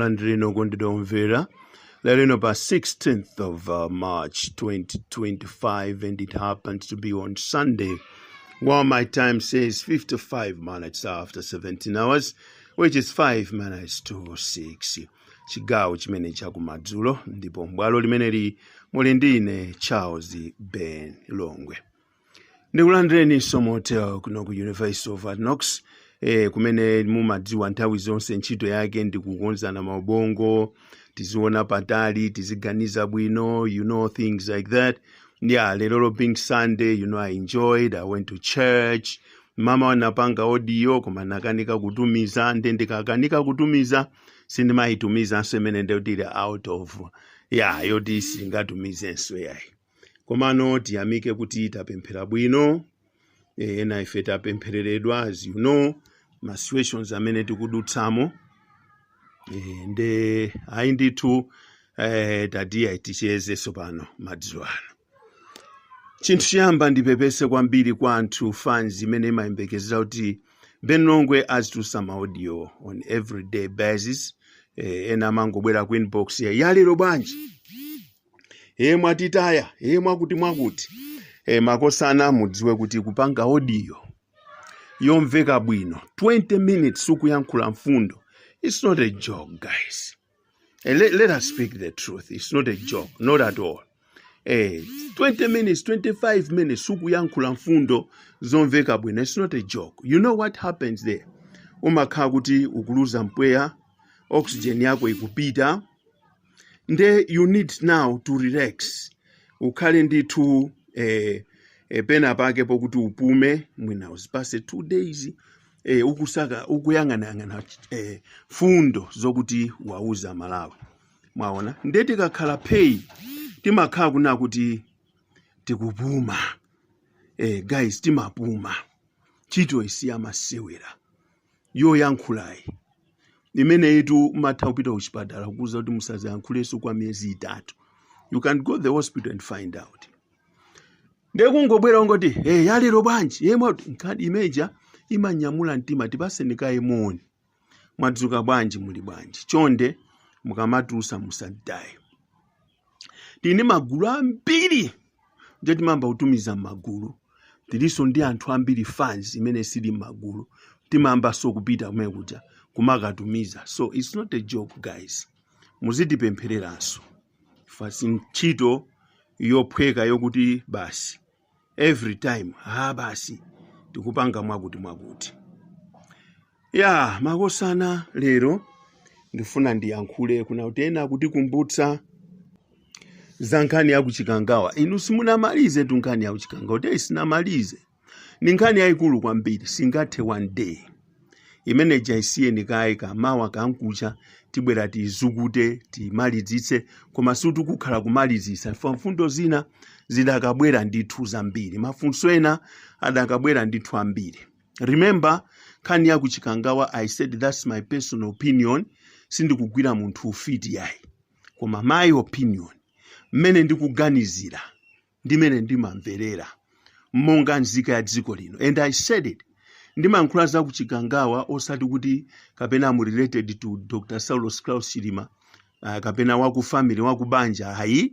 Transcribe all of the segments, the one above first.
Landirani moni okondedwa omvera lerolino pa 16th of uh, march 2025 and it happened to be on sunday while my time says 55 minutes after 17 hours which is 5 minutes to 6 chigawo chimene chakumadzulo ndipo m'bwalo limeneli muli ndine charles ben longwe ndikulandireni nso mo hotel kuno ku university of Hard Knocks eh, kumene mumadziwa nthawi zonse ntchito yake ndi kukonzana maubongo tiziona patali tiziganiza bwino you know things like that yeah lero lo being sunday you know i enjoyed i went to church mama wanapanga audio koma nakanika kutumiza nde ndikakanika kutumiza sindimayitumizanso imene ndiyoti ili out of yeah yoti singatumizidwenso yayi komano tiyamike kuti tapemphera bwino eh, ena ife tapemphereredwa as you know ma situations amene tikudutsamo eh, nde ayi ndithu eh, tiyeni tichezenso pano madzulo ano chinthu choyamba ndipepese kwambiri kwa anthu fans imene imayembekezera kuti ben longwe azitulutsa maaudio on everyday basis eh, ena amangobwera ku inbox yalero bwanji e mwatitaya e mwakuti mwakuti e makosana mudziwe kuti kupanga audio yomveka bwino 20 minutes ukuyankhula mfundo it's not a joke guys eh, let, let us speak the truth it's not a joke not at all eh, 20 minutes 25 minutes ukuyankhula mfundo zomveka bwino it's not a joke you know what happens there umakhala kuti ukuluza mpweya oxygen yako ikupita nde you need now to relax ukhale ndithu eh, eh, pena pake pokuti upume mwina uzipase two days eh, ukusaka ukuyang'anayang'ana eh, mfundo zokuti uwauze aMalawi mwaona nde tikakhala phee timakhala kuna kuti tikupuma eh, guys timapuma ntchito si yamasewera yoyankhulayi imeneyitu umatha kupita kuchipatala kukuuza kuti musazayankhulenso kwa miyezi itatu you can go the hospital and find out ndiye kungobwera ungoti hey, yalero bwanji ayi mwakuti nkhani imene ija imanyamula mtima tipaseni kaye moni mwadzuka bwanji muli bwanji chonde mukamatulutsa musatitaye tili ndi magulu ambiri ndiye timayamba kutumiza m'magulu tilinso ndi anthu ambiri fans imene siili m'magulu timayambanso kupita kumene kuja kumakatumiza so its not a joke guys muzitipemphereranso fans si ntchito yophweka yokuti basi every time ha basi tikupanga mwakuti mwakuti ya makosana lero ndifuna ndiyankhule kunali kuti ena kutikumbutsa za nkhani ya kuchikangawa inu simunamalizetu nkhani ya kuchikangawa kuti sinamalize ni nkhani yayikulu kwambiri singathe one day imene ija isiyeni kaye kumawa kankucha tibwera tizukute timalizitse koma sitikukhala kumalizitsa chifukwa mfundo zina zidakabwera ndithu zambiri mafunso ena adakabwera ndithu ambiri remember nkhani ya kuchikangawa i said that's my personal opinion sindikugwira munthu ufiti yayi koma my opinion mmene ndikuganizira ndi mmene ndimamverera monga nzika ya dziko lino and i said it ndimayankhula za kuchikangawa osati kuti kapena am related to dr saulos klaus chilima uh, kapena waku family waku banja ayi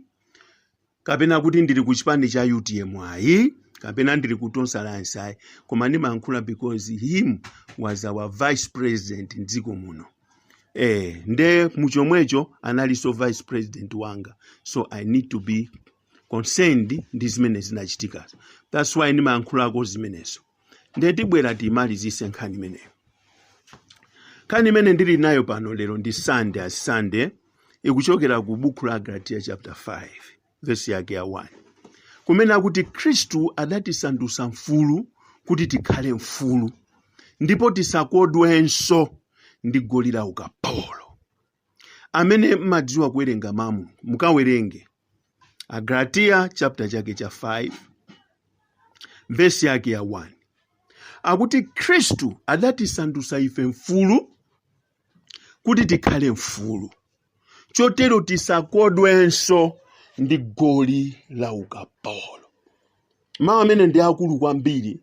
kapena kuti ndili ku chipani cha utm ayi kapena ndili ku tonse alliance ayi koma ndimayankhula because him was our vice president mdziko muno eh nde muchomwecho analinso vice president wanga so i need to be concerned ndi zimene zinachitikazo that's why ndimayankhulako zimenezo ndiye tibwera tiimalizitse nkhani imeneyo nkhani imene ndili nayo pano lero ndi sande sande ikuchokera ku buku la agalatiya chapter 5 vesi yake ya 1 kumene akuti khristu adatisandutsa mfulu kuti tikhale mfulu ndipo tisakodwenso ndi goli la ukapolo amene mmadziwa kuwerenga mawu a mulungu mukawerenge agalatiya chapter chake cha 5 vesi yake ya 1 akuti khristu adatisandutsa ife mfulu kuti tikhale mfulu chotero tisakodwenso ndi goli la ukapolo mawu amene ndi akulu kwambiri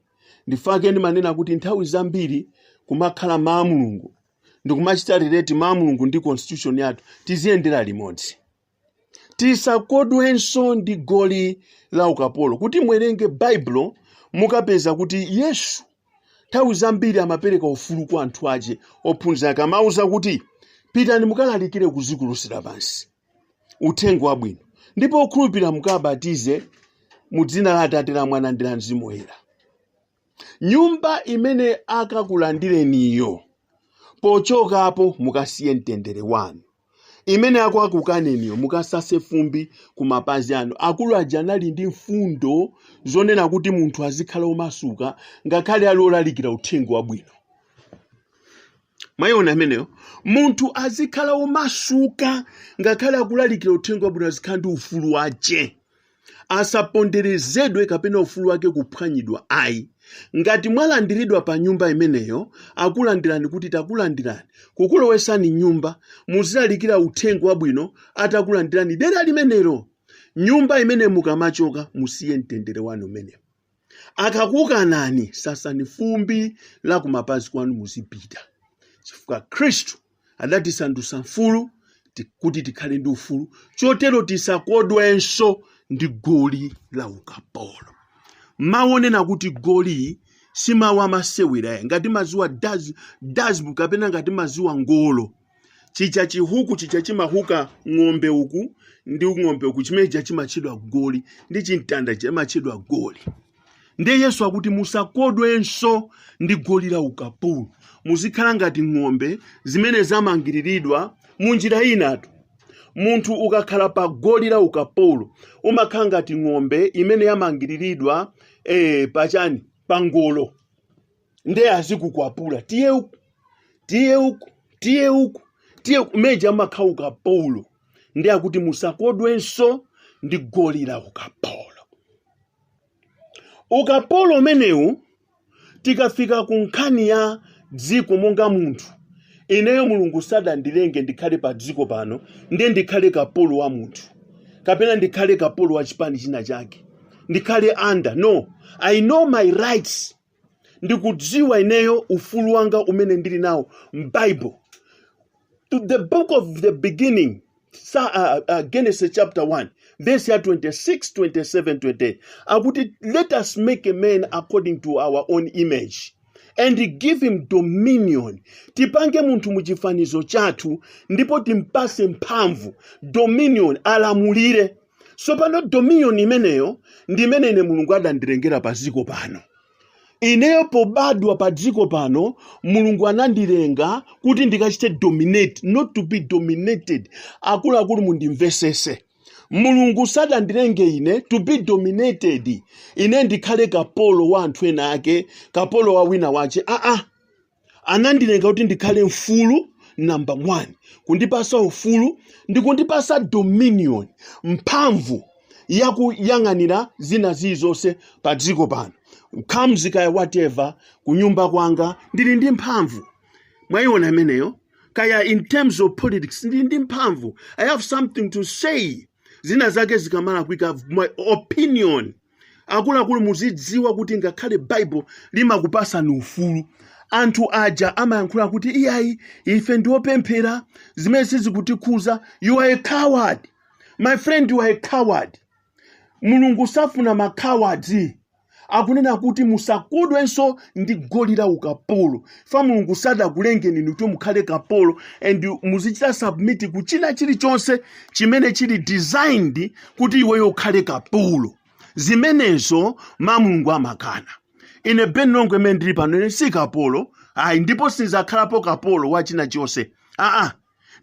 ndi chifukwa chake ndimanena kuti nthawi zambiri kumakhala mawu a mulungu ndikumachita relate mawu a mulungu ndi constitution yathu tiziyendera limodzi tisakodwenso ndi goli la ukapolo kuti mwerenge baibulo mukapeza kuti yesu nthawi zambiri amapereka ufulu kwa anthu ache ophunzira ake amawauza kuti pitani mukalalikire ku dziko lonse lapansi uthenga wabwino ndipo okhulupirira mukabatize mu dzina la atate la mwana ndi la mzimu woyera nyumba imene akakulandireniyo, pochokapo mukasiye mtendere wanu. Imene akakukaneniyo, mukasase fumbi ku mapazi anu. Akulu aja anali ndi mfundo zonena kuti munthu azikhala omasuka ngakhale ali olalikira uthenga wabwino. Mwayiona imeneyo, munthu azikhala omasuka ngakhale akulalikira uthenga wabwino, azikhala ndi ufulu wache. asaponderezedwe kapena ufulu wake kuphwanyidwa ayi ngati mwalandiridwa pa nyumba imeneyo akulandirani kuti takulandirani kukulowesani m'nyumba muzilalikira uthenga wabwino atakulandirani dera limenelo nyumba imene mukamachoka musiye mtendere wanu umenewo akakukanani sasani fumbi la kumapazi kwanu muzipita chifukwa khristu adatisandutsa mfulu ti- kuti tikhale ndi ufulu chotero tisakodwenso ndi goli la ukapolo mawu onena kuti goli si mawu amasewera ayi ngati maziwa daz- dazbu kapena ngati maziwa ngolo chija chihuku chija chimahuka ng'ombe uku ndi ng'ombe uku chimene chija chimatchedwa goli ndi chimtanda chimatchedwa goli ndiye yesu akuti musakodwenso ndi goli la ukapolo muzikhala ngati ng'ombe zimene zamangiriridwa mu njira inatu munthu ukakhala pa goli la ukapolo umakhala ngati ng'ombe imene yamangiriridwa eh, pachani pa ngolo ndiye azikukwapula tiye uku tiye uku tiye uku tiye uku muja umakhala ukapolo ndiye akuti musakodwenso ndi goli la ukapolo ukapolo umenewu tikafika ku nkhani ya dziko monga munthu ineyo mulungu sadandilenge ndikhale pa dziko pano ndiye ndikhale kapolo wa munthu kapena ndikhale kapolo wa chipani china chake ndikhale under no i know my rights ndikudziwa ineyo ufulu wanga umene ndili nawo m'bible to the book of the beginning sa, uh, uh, genesis chapter 1 verse ya 26 27 28 akuti let us make a man according to our own image and give him dominion tipange munthu mu chifanizo chathu ndipo timpase mphamvu dominion alamulire tsopano dominion imeneyo ndi imene ine mulungu adandilengera pa dziko pano ineyo pobadwa pa dziko pano mulungu anandilenga kuti ndikachite dominate not to be dominated akuluakulu mundimvesese mulungu sadandilenge ine to be dominated ine ndikhale kapolo wa anthu ena ake kapolo wa wina wache aa ah, ah. anandilenga kuti ndikhale mfulu number one kundipasa ufulu ndi kundipasa dominion mphamvu yakuyang'anira zina zilizonse pa dziko pano comes kaya whatever kunyumba kwanga ndili ndi mphamvu mwayiona imeneyo kaya in terms of politics ndili ndi mphamvu i have something to say zina zake zikamalakwika my opinion akuluakulu muzidziwa kuti ngakhale baibulo limakupasani ufulu anthu aja amayankhula kuti iyayi ife ndiopemphera zimene sizikutikhuza you are a coward my friend you are a coward mulungu safuna ma coward akunena kuti musakodwenso ndi goli la ukapolo fa mulungu sadakulengeni inu kuti mukhale kapolo and muzichita submit ku china chilichonse chimene chili designed kuti iweyo ukhale kapolo zimenezo mulungu amakana ine ben longwe mene ndili pano ine si kapolo ayi ndipo sindizakhalapo kapolo wa china chonse aa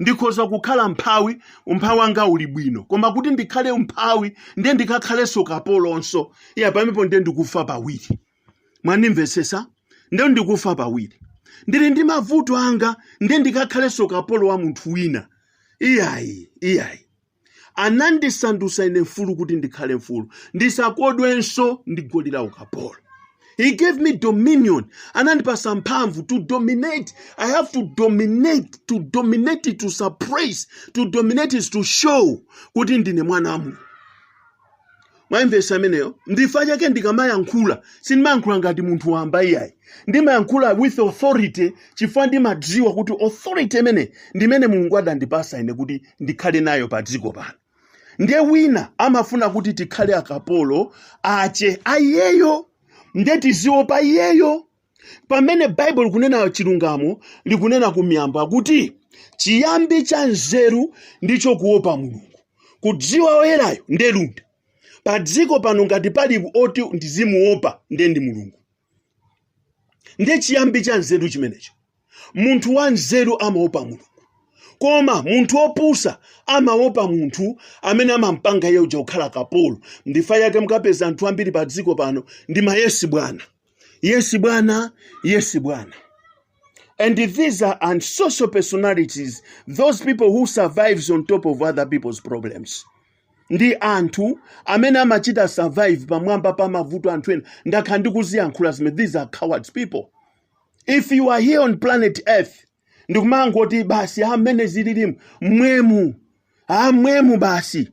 ndikhoza kukhala mphawi umphawi wanga uli bwino koma kuti ndikhale mphawi ndiye ndikakhalenso kapolonso iya pamenepo ndiye ndikufa pawiri mwandimvetsetsa nde ndikufa pawiri ndili ndi mavuto anga nde ndikakhalenso kapolo wa munthu wina iyayi iyayi anandisandutsa ine mfulu kuti ndikhale mfulu ndisakodwenso ndi goli la ukapolo he gave me dominion anandipasa mphamvu to dominate i have to dominate to dominate to suppress to dominate is to show kuti ndine mwana wa mulungu mwaimvesa ameneyo ndifa chake ndikamayankhula sindimayankhula ngati munthu wamba iyayi ndimayankhula with authority chifukwa ndimadziwa kuti authority imene ndimene mulungu adandipasa ine kuti ndikhale nayo pa dziko pano ndiye wina amafuna kuti tikhale akapolo ache ayeyo ndiye tiziopa iyeyo pamene baibulo likunena chilungamo likunena kumiyambo akuti chiyambi cha nzeru ndicho kuopa mulungu kudziwa oyerayo nde luntha pa dziko pano ngati pali oti ndizimuopa nde ndi mulungu nde chiyambi cha nzeru chimenecho munthu wanzeru amaopa mulungu koma munthu wopusa amaopa munthu amene amampanga iye uja kukhala kapolo ndifa chake mukapeza anthu ambiri pa dziko pano ndi mayesi bwana yesi bwana yesi bwana And these are unsocial personalities, those people who survives on top of other people's problems. ndi anthu amene amachita survive pamwamba pa mavuto anthu ena ndakhala ndikuziyankhula zimene these are cowards people if you are here on planet earth ndikumangoti basi a mmene zililimu mmwemu amwemu basi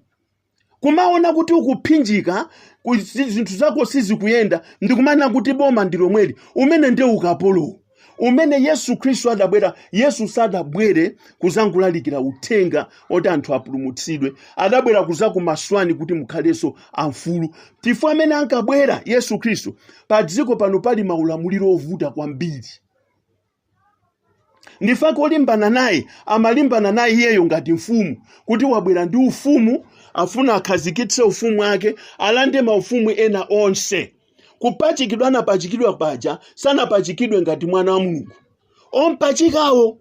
kumaona kuti ukuphinjika ku- zi- zinthu zako sizikuyenda ndikumana kuti boma ndi lomweli umene nde ukapolo umene yesu khristu adabwera yesu sadabwere kuzangolalikira uthenga oti anthu apulumutsidwe adabwera kuzakumasulani kuti mukhalenso amfulu chifukwa mmene ankabwera yesu khristu pa dziko pano pali maulamuliro ovuta kwambiri ndi fa ko olimbana naye amalimbana naye iyeyo ngati mfumu kuti wabwera ndi ufumu afuna akhazikitse ufumu wake alande maufumu ena onse kupachikidwa anapachikidwa paja sanapachikidwe ngati mwana wa mulungu ompachikawo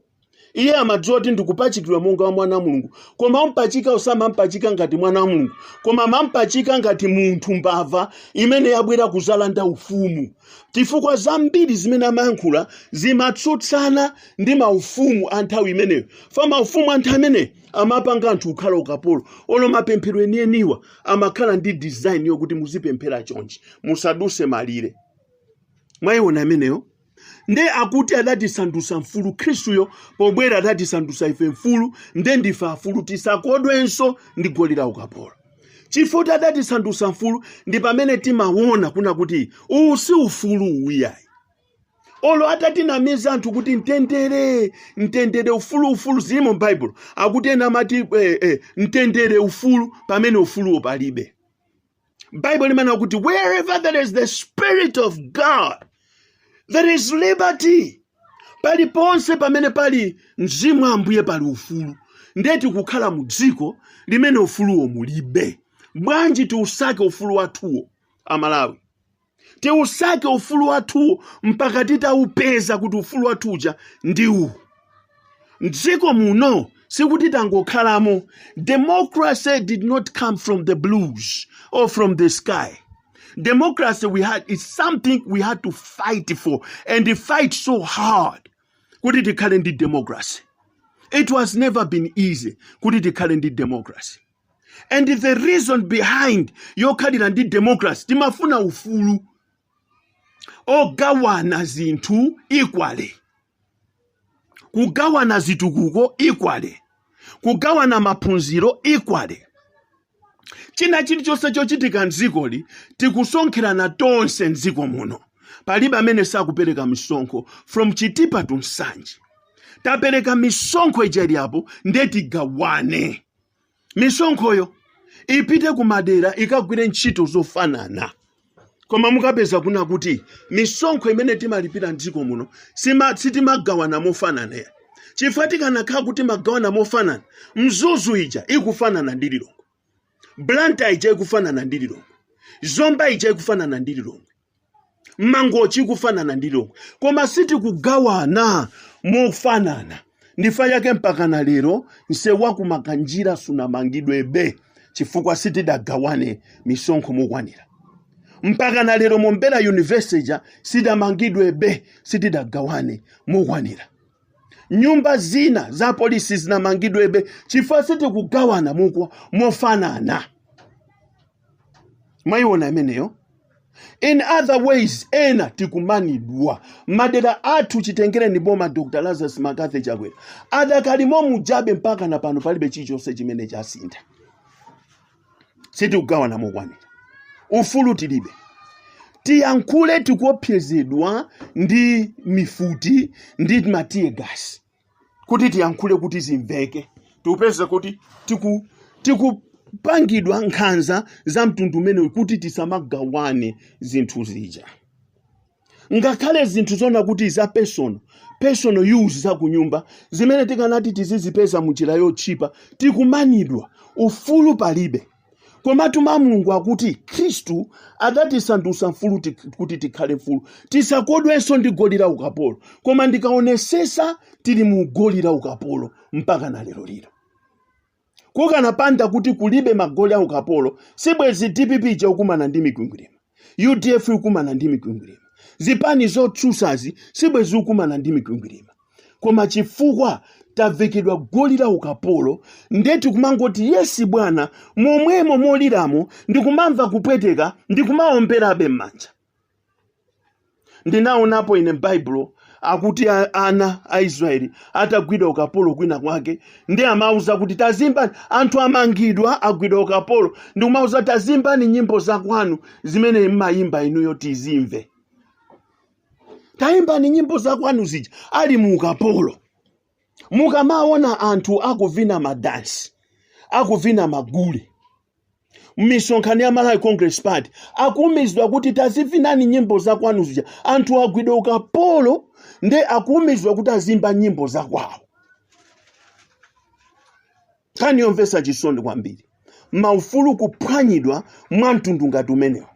iye amadziwa kuti ndikupachikidwa monga wa mwana wa mulungu koma ompachikawo samampachika ngati mwana wa mulungu koma amampachika ngati munthu mbava imene yabwera kuzalanda ufumu chifukwa zambiri zimene amayankhula zimatsutsana ndi maufumu a nthawi imeneyo fa maufumu a nthawi imeneyo amapanga anthu kukhala ukapolo olo mapemphero enieniwa amakhala ndi design yokuti muzipemphera chonchi musaduse malire mwayiona imeneyo nde akuti adatisandutsa mfulu khristuyo pobwera adatisandutsa ife mfulu nde ndife afulu tisakodwenso ndi goli la ukapolo chifukwa adatisandutsa mfulu ndi pamene timawona kuna kuti uwu si ufulu uwu ayi olo atatinamiza anthu kuti mtendere mtendere ufulu ufulu zimo m'baibulo akuti ena amati eh, eh, mtendere ufulu pamene ufuluwo palibe bible limanena kuti wherever there is the spirit of god there is liberty paliponse pamene pali mzimu wa ambuye pali ufulu ndiye tikukhala mu dziko limene ufuluwo mulibe bwanji tiusake ufulu wathuwo amalawi tiusake ufulu wathuwo mpaka titaupeza kuti ufulu wathu uja ndi uwu mdziko muno sikuti tangokhalamo democracy did not come from the blues or from the sky democracy we have is something we had to fight for and fight so hard kuti tikhale ndi democracy it has never been easy kuti tikhale ndi democracy and the reason behind yokhalira ndi democracy timafuna ufulu ogawana zinthu equally kugawana zitukuko equally kugawana maphunziro equally china chilichonse chochitika mdzikoli tikusonkherana tonse mdziko muno palibe amene sakupereka misonkho from chitipa to nsanje tapereka misonkho ija iliapo nde tigawane misonkhoyo ipite ku madera ikagwire ntchito zofanana koma mukapeza kuna kuti misonkho imene timalipira mdziko muno sima- sitimagawana mofanana chifukwa tikanakhala kuti timagawana mofanana mzuzu ija ikufanana ndi lilongwe blantyre ija ikufanana ndi lilongwe zomba ija ikufanana ndi lilongwe mangochi ikufanana ndi lilongwe koma sitikugawana mofanana ndi chifukwa chake mpakana lero msewu wa kumakanjira sunamangidwebe chifukwa sitidagawane misonkho mokwanira mpakana lero mombera university ja sidamangidwebe sitidagawane mokwanira nyumba zina za polisi sizinamangidwebe chifukwa sitikugawana mokwa mofanana mwayiona imeneyo in other ways ena tikumanidwa madera athu chitengereni boma dr lazarus mccarthy chakwera ada kali mo mujabe mpaka na pano palibe chilichonse chimene chasintha sitikugawana mokwanira ufulu tilibe tiyankhule tikuopsezedwa ndi mifuti ndi matear gas kuti tiyankhule kuti zimveke tikupeza kuti tiku tikupangidwa nkhanza za mtundu umenewu kuti tisamagawane zinthu zija ngakhale zinthu zona kuti za personal personal use za kunyumba zimene tikanati tizizipeza mu njira yotchipa tikumanidwa ufulu palibe Komatu Mawu a Mulungu akuti Khristu adatisandutsa mfulu tik- kuti tikhale mfulu, tisakodwenso ndi goli la ukapolo. Koma ndikaonesesa tili mu goli la ukapolo mpaka na lero lino. Kukanapanda kuti kulibe magoli a ukapolo, sibwezi DPP ija ikukumana ndi mikwingwirima. udf ikukumana ndi mikwingwirima zipani zotsusazi sibwezi zikukumana ndi mikwingwirima koma chifukwa tavekedwa goli la ukapolo nde tikumangoti yesi bwana momwemo moliramo ndikumamva kupweteka ndikumaomberabe m'manja ndinaonapo ine m'baibulo akuti a- ana a israeli atagwidwa ukapolo kwina kwake nde amawauza kuti tazimbani anthu amangidwa agwidwa ukapolo ndikumawauza tazimbani nyimbo zakwanu zimene mmayimba inuyo tizimve tayimbani nyimbo zakwanu zija ali mu ukapolo mukamaona anthu akuvina madansi akuvina magule m'misonkhano ya malawi congress party akuumizidwa kuti tazivinani nyimbo zakwanu zija anthu agwidwa ukapolo nde akuumizidwa kuti azimba nyimbo zakwawo nkhani yomvetsa chisoni kwambiri maufulu kuphwanyidwa mwa mtundu ngati umenewo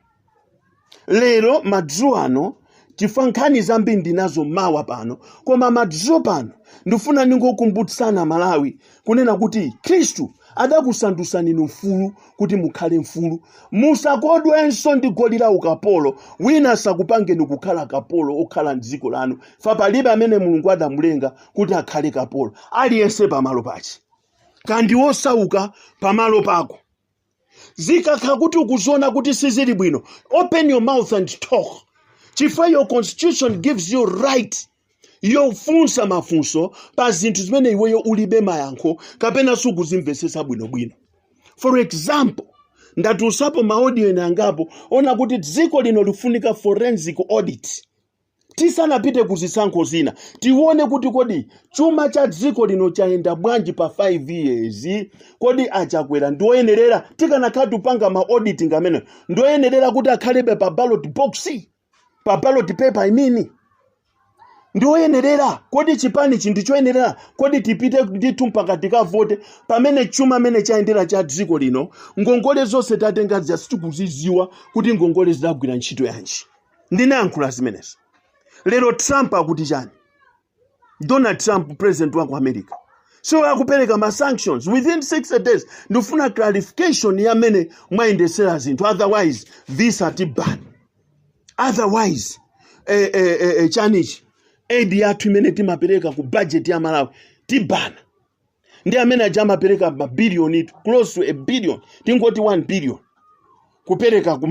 lero madzulo ano chifukwa nkhani zambiri ndinazo mawa pano koma madzulo pano ndifuna ndingokumbutsana amalawi kunena kuti khristu adakusandutsani inu mfulu kuti mukhale mfulu musakodwenso ndi goli la ukapolo wina asakupangeni kukhala kapolo okhala mdziko lanu fa palibe amene mulungu adamulenga kuti akhale kapolo aliyense pamalo pache kandi wosauka pamalo pako zikakhala kuti ukuziona kuti sizili bwino open your mouth and talk chifukwa your constitution gives you right yofunsa mafunso pa zinthu zimene iweyo ulibe mayankho kapena sukuzimvetsetsa bwinobwino for example ndatulusapo maaudio ena angapo onena kuti dziko lino lifunika forensic audit tisanapite ku zisankho zina tione kuti kodi chuma cha dziko lino chayenda bwanji pa 5 years kodi achakwera ndioyenerera tikanakhala tupanga ma auditing amene ndioyenerera kuti akhalebe pa ballot box pa ballot paper I mean ndi oyenerera kodi chipanichi ndi choyenerera kodi tipite ndithu mpaka tikavote pamene chuma mmene chayendera cha dziko lino ngongole zonse tatenga zija sitikuzidziwa kuti ngongole zidagwira ntchito yanji ndinayankhula zimenezi lero trump akuti chani donald trump president wa ku america so akupereka ma sanctions within 60 days ndifuna clarification ya mmene mwayendesera zinthu otherwise visa tibana otherwise eh, eh, eh, eh, chanichi aid yathu imene timapereka ku budget ya malawi tibana ndi amene aja amapereka mabiliyoni close to a billion tingoti 1 billion kupereka ku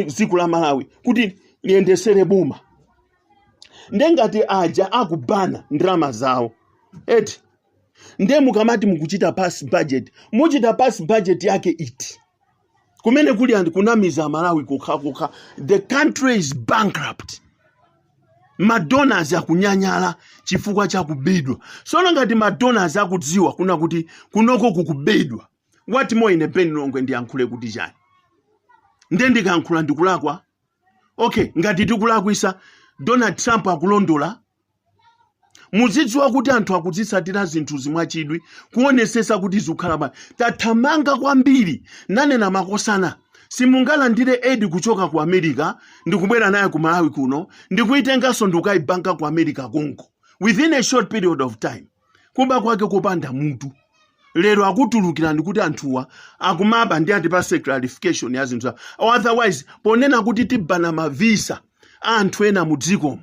dziko la malawi kuti liyendesere boma nde ngati aja akubana ndalama zawo eti nde mukamati mukuchita pass budget muchita pass budget yake iti kumene kuli ndi kunamiza amalawi kokhakokha the country is bankrupt madonors akunyanyala chifukwa cha kubedwa sono ngati madonors akudziwa kuna kuti kunoko kukubedwa what more ine ben longwe ndiyankhule kuti chani nde ndikankhula ndikulakwa okay ngati tikulakwisa donald trump akulondola muzidziwa kuti anthu akuzitsatira zinthuzi mwachidwi kuonesesa kuti zikukhala bwanji tathamanga kwambiri nanena makosana simungalandire aid kuchoka ku america ndikubwera naye ku malawi kuno ndikuitenganso ndikukayibanka ku america konko within a short period of time kuba kwake kopanda mutu lero akutulukirani kuti anthuwa akumaba nde atipase clarification ya zinthu zawo otherwise ponena kuti tibana mavisa a anthu ena mu dzikomo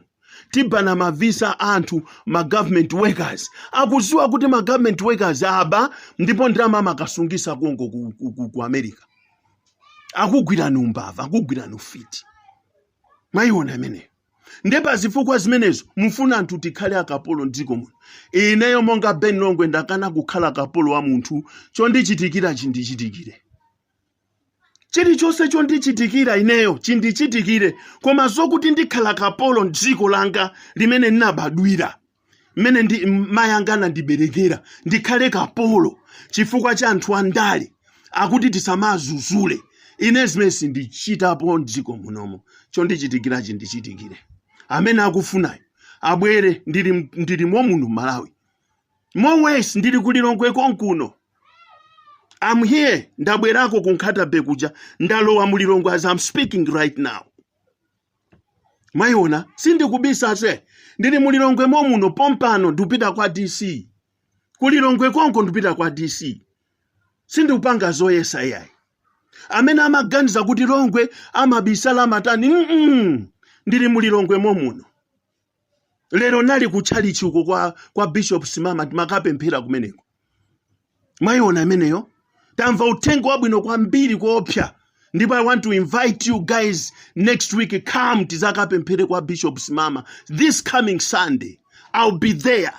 tibanna ma visa anthu ma government workers akuziwa kuti ma government workers aba ndipo ndalama amakasungisa konko ku, ku, ku, ku america akugwirani umbava akugwirani ufiti mwayiona imeneyo nde pa zifukwa zimenezo mufuna anthu tikhale akapolo mdziko muno ineyo monga ben longwe ndakana kukhala kapolo wa munthu chondichitikira chindichitikire chilichonse chondichitikira ineyo chindichitikire koma zokuti ndikhala kapolo m'dziko langa limene ndinabadwira mmene ndi mayi anga anandiberekera ndikhale kapolo chifukwa cha anthu andale akuti tisamazuzule ine zimene sindichitapo m'dziko munomo chondichitikira chindichitikire amene akufunayo abwere ndili ndilimo muno malawi More worse ndili ku Lilongwe konkuno. I'm here ndabwerako ku Nkhata Bay kuja ndalowa mu Lilongwe as I'm speaking right now. Mwayiona sindikubisa se ndili mu Lilongwe momuno pompano ndikupita kwa DC. Ku Lilongwe konko ndikupita kwa DC. Sindikupanga zoyesa yayi. Amene amaganiza kuti Longwe amabisala amatani mm -mm. ndili mu Lilongwe momuno. lero nali ku tchalitchi uko kwa, kwa bishop simama timakapemphera kumeneko mwayiona imeneyo tamva uthenga wabwino kwambiri koopsa ndipo i want to invite you guys next week come tizakapemphere kwa bishop simama this coming sunday i'll be there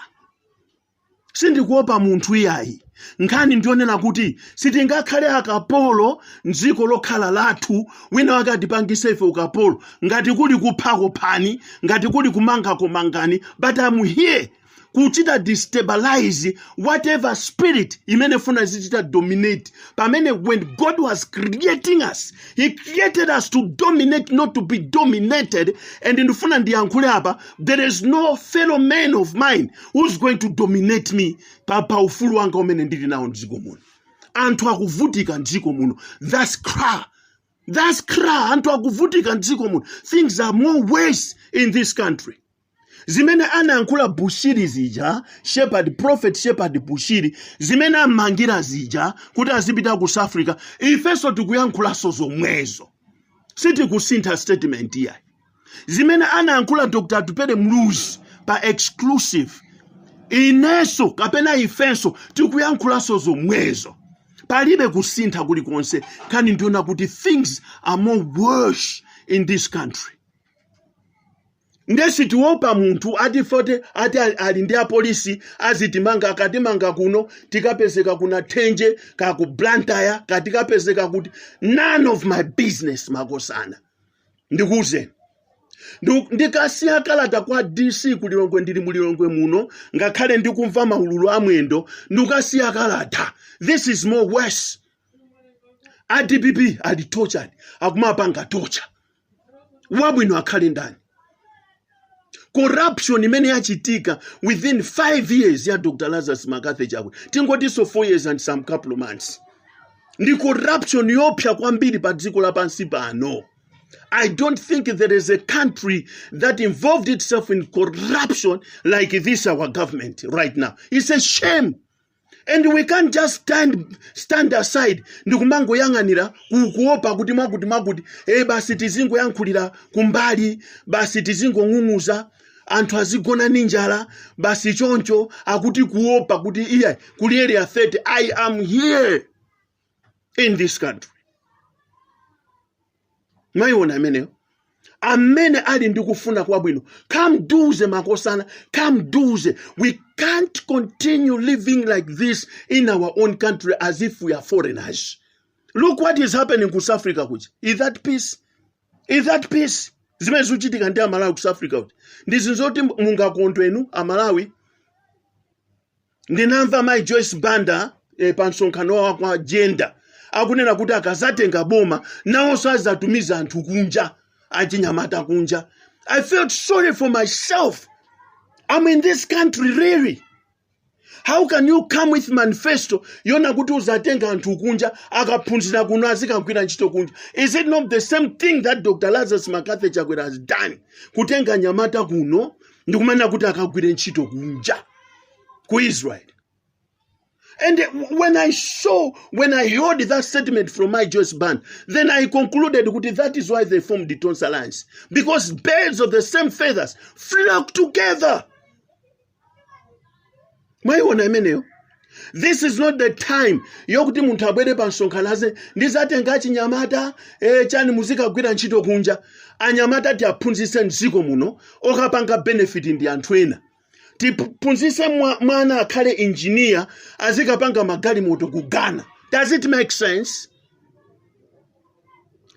sindikuopa munthu iyayi nkhani ndiyonena kuti sitingakhale akapolo mdziko lokhala lathu wina wake atipangise ife ukapolo ngati kuli kuphako iphani ngati kuli kumangako mangani but am here kuchita destabilize whatever spirit imene funa zichita dominate pamene when god was creating us he created us to dominate not to be dominated and ndifuna ndiyankhule apa there is no fellow man of mine who's going to dominate me pa, pa ufulu wanga umene ndili nawo mdziko muno anthu akuvutika mdziko muno thats cra thats cra anthu akuvutika mdziko muno things are more worse in this country zimene anayankhula bushiri zija shepherd prophet shepherd bushiri zimene ammangira zija kuti azipita ku south africa ifenso tikuyankhulanso zomwezo sitikusintha statement iyayi zimene anayankhula dr atupele muluzi pa exclusive inenso kapena ifenso tikuyankhulanso zomwezo palibe kusintha kulikonse nkhani ndiyonena kuti things are more worse in this country nde sitiwopa munthu ati fote ati ali- ali ndi apolisi azitimanga akatimanga kuno tikapezeka ku nathenje kaya ku blantyre kaya tikapezeka kuti none of my business makosana ndikuwuzeni Ndiku- ndikasiya kalata kwa dc ku lilongwe ndili mu lilongwe muno ngakhale ndikumva maululu amwendo ndikasiya kalata this is more worse a dpp ali tortured akumapanga torture wabwino akhale ndani corruption imene yachitika within 5 years ya dr lazarus mccarthy chakwera tingotinso 4 years and some couple of months ndi corruption yopsa kwambiri pa dziko lapansi pano i don't think there is a country that involved itself in corruption like this our government right now it's a shame and we can't just stand, stand aside ndikumangoyang'anira ku- kuopa kuti mwakuti mwakuti e basi tizingoyankhulira kumbali basi tizingong'ung'uza anthu azigona ndi njala basi choncho akuti kuopa kuti iyayi kuli area 30 i am here in this country mwayiona imeneyo amene ali ndi kufuna kwabwino come tuesday makosana come tuesday we can't continue living like this in our own country as if we are foreigners look what is happening ku south africa kuja is that peace is that peace zimene zikuchitika ndi amalawi ku south africa kuja ndi zinthu zoti mungakondwe inu amalawi ndinamva mai joyce banda e, pa msonkhano wa kwa jenda akunena kuti akazatenga boma nawonso azatumiza anthu kunja achinyamata kunja i felt sorry for myself i'm in this country really how can you come with manifesto yonena kuti uzatenga anthu kunja akaphunzira kuno azikagwira ntchito kunja is it not the same thing that dr lazarus mccarthy chakwera has done kutenga anyamata kuno ndikumanena kuti akagwire ntchito kunja ku israeli And when I saw, when I heard that statement from mai Joyce Banda, then I concluded kuti that is why they formed the Tonse Alliance. Because birds of the same feathers flock together. Mwaiona imeneyo? This is not the time yokuti munthu abwere pa msonkhano aze ndizatenga achinyamata eh, chani muzikagwira ntchito kunja anyamata tiaphunzitse mdziko muno okapanga benefit ndi anthu ena tiphunzise mwa- mwana akhale injiniya azikapanga magalimoto ku ghana does it make sense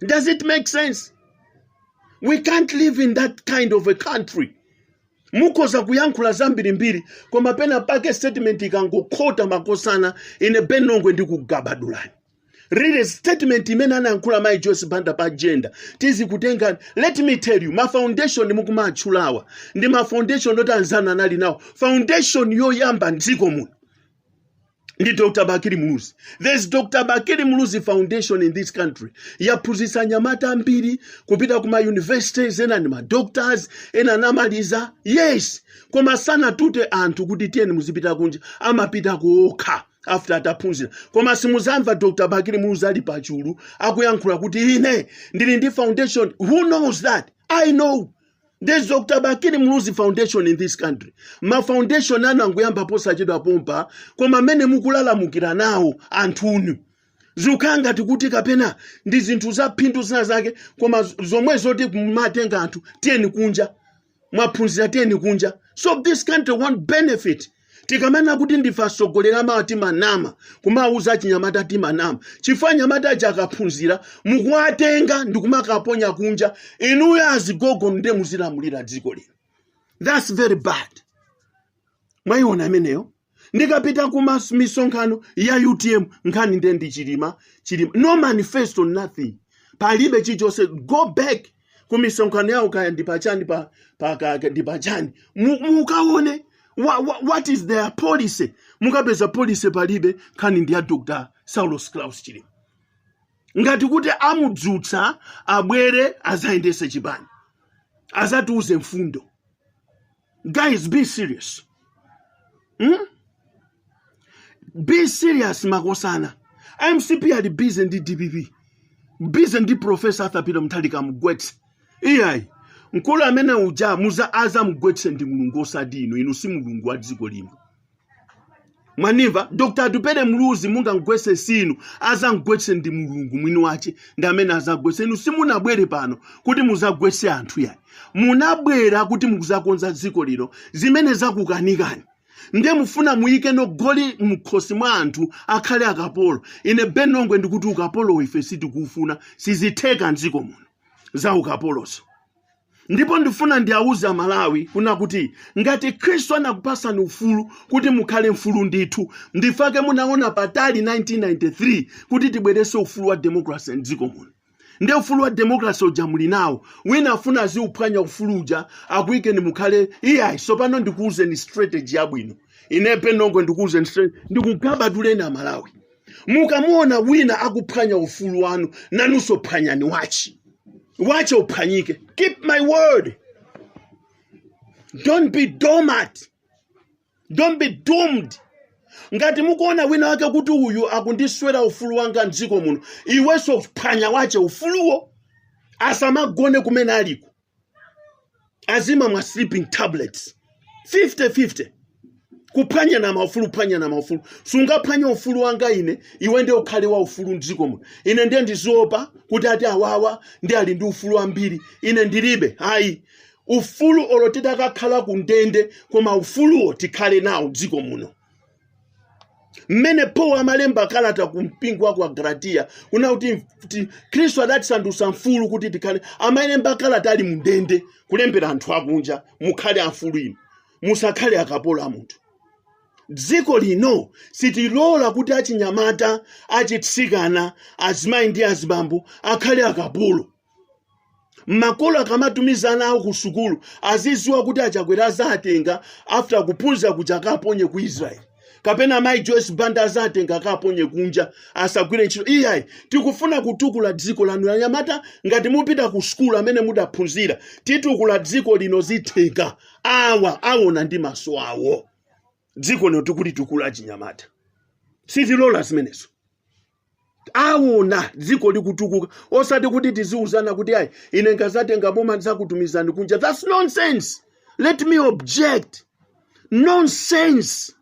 does it make sense we can't live in that kind of a country mukhoza kuyankhula zambirimbiri koma pena pake statement ikangokhota makosana ine benongwe ndikugabadulani really statement imene anayankhula mayi joyce banda pa agenda tidzikutenga let me tell you ma foundation mukumatchulawa ndi ma foundation oti anzanu anali nawo foundation yoyamba mdziko muno ndi dr bakili muluzi there's dr bakili muluzi foundation in this country yaphunzitsa anyamata ambiri kupita ku ma universities ena ndi ma doctors ena anamaliza yes koma sanatute anthu kuti tiyeni muzipita kunja amapita kokha after ataphunzira koma simuzamva dr bakili muluzi ali pachulu akuyankhula kuti ine ndili ndi foundation who knows that i know there's dr bakili muluzi foundation in this country ma foundation anu angoyamba posachedwa pompa koma mmene mukulalamukira nawo anthunu zikukhala ngati kuti kapena ndi zinthu za phindu zina zake koma zomwe zoti kumatenga anthu tiyeni kunja mwaphunzira tiyeni kunja so this country won't benefit tikamati kuti ndife atsogoleri amawa timanama kumawuza achinyamata timanama chifukwa anyamata aja akaphunzira mukuwatenga ndikumakaponya kunja inuyo azigogo nde muzilamulira dziko lino that's very bad mwayiona imeneyo ndikapita ku mas- misonkhano ya utm nkhani nde ndi chilima chilima no manifesto nothing palibe chilichonse go back ku misonkhano yawo kaya ndi pachani pa, pa, ka- ka- ndi pachani Mu- mukaone wa, wa, what is their policy mukapeza policy palibe nkhani ndi ya dr saulos klaus chilima ngati kuti amudzutsa abwere azayendese chipani azatiuze mfundo guys be serious hmm? be serious makosana a mcp ali busy ndi dpp busy ndi professor arthur peter mutharika mugwetse iyayi mkulu amene uja muza aza mugwetse ndi mulungu osati inu inu si mulungu wa dziko lino mwanimva dr atupele muluzi mungamgwetse sinu azamgwetse ndi mulungu mwini wache ndi amene azagwetse inu simunabwere pano kuti muzagwetse anthu yayi munabwera kuti mukuzakonza dziko lino zimene zakukanikani ndiye mufuna muyike goli mkhosi mwa anthu akhale akapolo ine benongwe ndikuti ukapolo ife sitikufuna sizitheka mdziko muno za ukapolozo ndipo ndifuna ndiawuze amalawi kuna kuti ngati khristu anakupasani ufulu kuti mukhale mfulu ndithu ndichifukwa chake munaona patali 1993 kuti tibweretse ufulu wa demokrasi mdziko muno nde ufulu wa demokrasi uja muli nawo wina afuna aziuphwanya ufulu uja akuyikeni mukhale iyayi sopano ndikuwuzeni strategy yabwino ine ben longwe ndikuwuzeni strategy ndikugabaduleni amalawi mukamuona wina akuphwanya ufulu wanu nanunso phwanyani wache wache uphwanyike keep my word don't be dormant don't be doomed ngati mukuona wina wake kuti uyu akundiswera ufulu wanga mdziko muno iwenso phwanya wache ufuluwo asamagone kumene aliko azimamwa sleeping tablets 50 50 kuphwanyana maufulu kuphwanyana maufulu sungaphwanye ufulu wanga ine iwe ndiye ukhale wa ufulu mdziko muno ine ndiye ndiziopa kuti ati awawa ndi ali ndi ufulu wambiri ine ndilibe ayi ufulu olo titakakhala ku ndende koma ufuluwo tikhale nawo mdziko muno mmene paulo amalemba kalata ku mpingo wa kwa agalatiya kunena kuti khristu adatisandutsa mfulu kuti tikhale amalemba kalata ali mndende kulembera anthu akunja mukhale amfulu inu musakhale akapolo a munthu dziko lino sitilola kuti achinyamata achitsikana azimayi ndi azibambo akhale akapolo makolo akamatumiza ana awo ku sukulu aziziwa kuti akabwera azatengedwa after kuphunzira kuja akaponye ku israel kapena mai joyce banda azatenga akaponye kunja asagwire ntchito iyayi tikufuna kutukula dziko lanu anyamata ngati mupita ku sukulu amene mudaphunzira titukula dziko lino zitheka awa awona ndi maso awo dziko lino tikulitukula achinyamata sitilola zimenezo awona dziko likutukuka osati kuti tiziuzana kuti ayi ine nkazatenga boma ndizakutumizani kunja thats nonsense let me object nonsense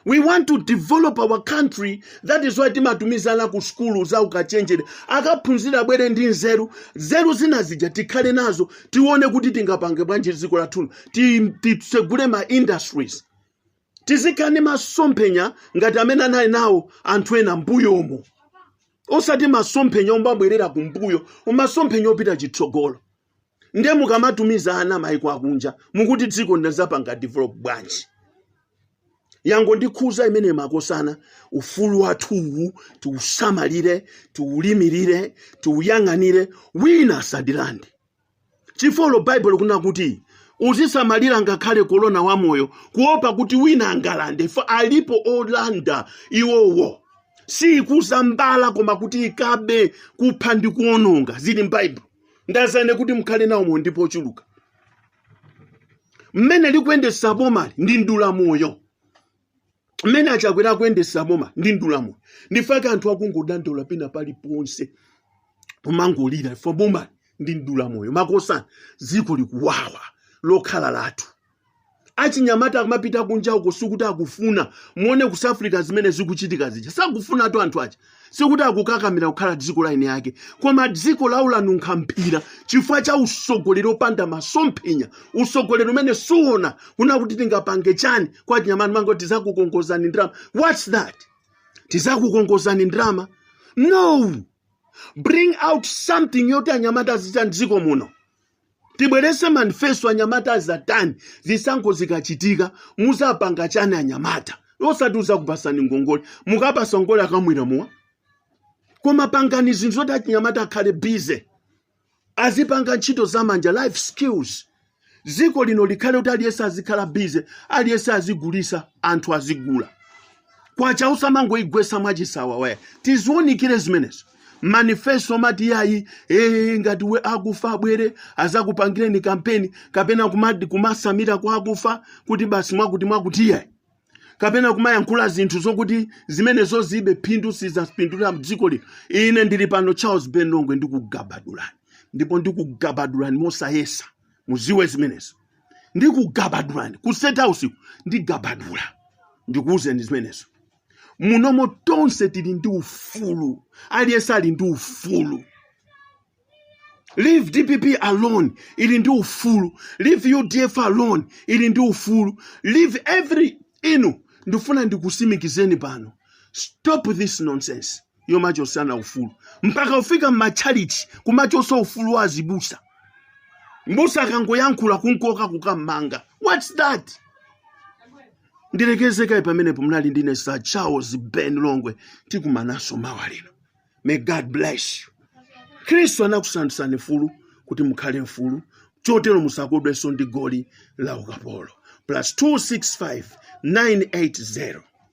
we want to develop our country that is why timatumizana ku skulu za ukachenjere akaphunzira abwere ndi nzeru nzeru zina zija tikhale nazo tione kuti tingapange bwanji dziko lathu ti- titsegule ma industries tizikhala ndi masomphenya ngati amene anali nawo anthu ena mmbuyomo osati masomphenya omabwerera kumbuyo masomphenya opita chitsogolo nde mukamatumiza ana maiko akunja mukuti dziko lino azapanga develop bwanji yangondikhudza imeneyi makosana ufulu wathuwu tiusamalire tiulimirire tiuyang'anire wina asatilande Chifukwa olo Bible kunena kuti, Uzisamalira ngakhale kolona wa moyo, kuopa kuti wina angalande, chifukwa alipo olanda iwowo. Siikudza mbala koma kuti ikabe, kupha ndi kuononga. Zili m'Bible. Ndadza ine kuti mukhale nawo moyo ndipo ochuluka. Mmene likuyendetsa bomali ndi mdula moyo. mmene a chakwera akuyendesa boma ndi mdulamoyo ndifake anthu akungodandaula pena paliponse kumangolira ifo boma ndi mdulamoyo makosana dziko likuwawa lokhala lathu achinyamata akamapita kunja uko sikuti akufuna muone ku south africa zimene zikuchitika zija sakufunatu anthu aja sikuti akukakamira kukhala dziko la eni ake koma dziko lawo lanunkha mphira chifukwa cha usogoleri opanda masomphenya usogoleri umene suona kuna kuti tingapange chani kwa achinyamata mango tizakukongozani ndrama whats that tizakukongozani ndrama no bring out something yoti anyamata azichita mdziko muno Tibwerese manifesto anyamata azatani zisankho zikachitika muzapanga chani anyamata osati tizakupasani ngongole mukapasa ngongole akamwira mowa koma pangani zinthu zoti achinyamata akhale busy azipanga ntchito zamanja life skills dziko lino likhale kuti aliyense azikhala busy aliyense azigulisa anthu azigula kwacha usamangoigwesa mwachisawawa ayi tiziwunikire zimenezo manifesto mati yayi ee ngati we akufa abwere azakupangireni kampeni kapena kumadi kumasamira kwa akufa kuti basi mwakuti mwakuti yayi kapena kumayankhula zinthu zokuti zimenezo zibe phindu sizapindula mdziko lino ine ndili pano charles ben longwe ndikugabadulani ndipo ndikugabadulani mosayesa muziwe zimenezo ndikugabadulani ku state house ndigabadula ndikuwuzeni zimenezo munomo tonse tili ndi ufulu aliyense ali ndi ufulu leave dpp alone ili ndi ufulu leave udf alone ili ndi ufulu leave every inu ndifuna ndikusimikizeni pano stop this nonsense yomachosana ufulu mpaka kufika m'matchalichi kumachosa ufulu wa azibusa mbusa akangoyankhula kumkoka kukammanga whats that ndilekeze kaye pamenepo munali ndi ine sir charles ben longwe tikumanaso mawa lino may god bless you khristu anakusandutsani mfulu kuti mukhale mfulu chotero musakodwenso ndi goli la ukapolo plus 265 980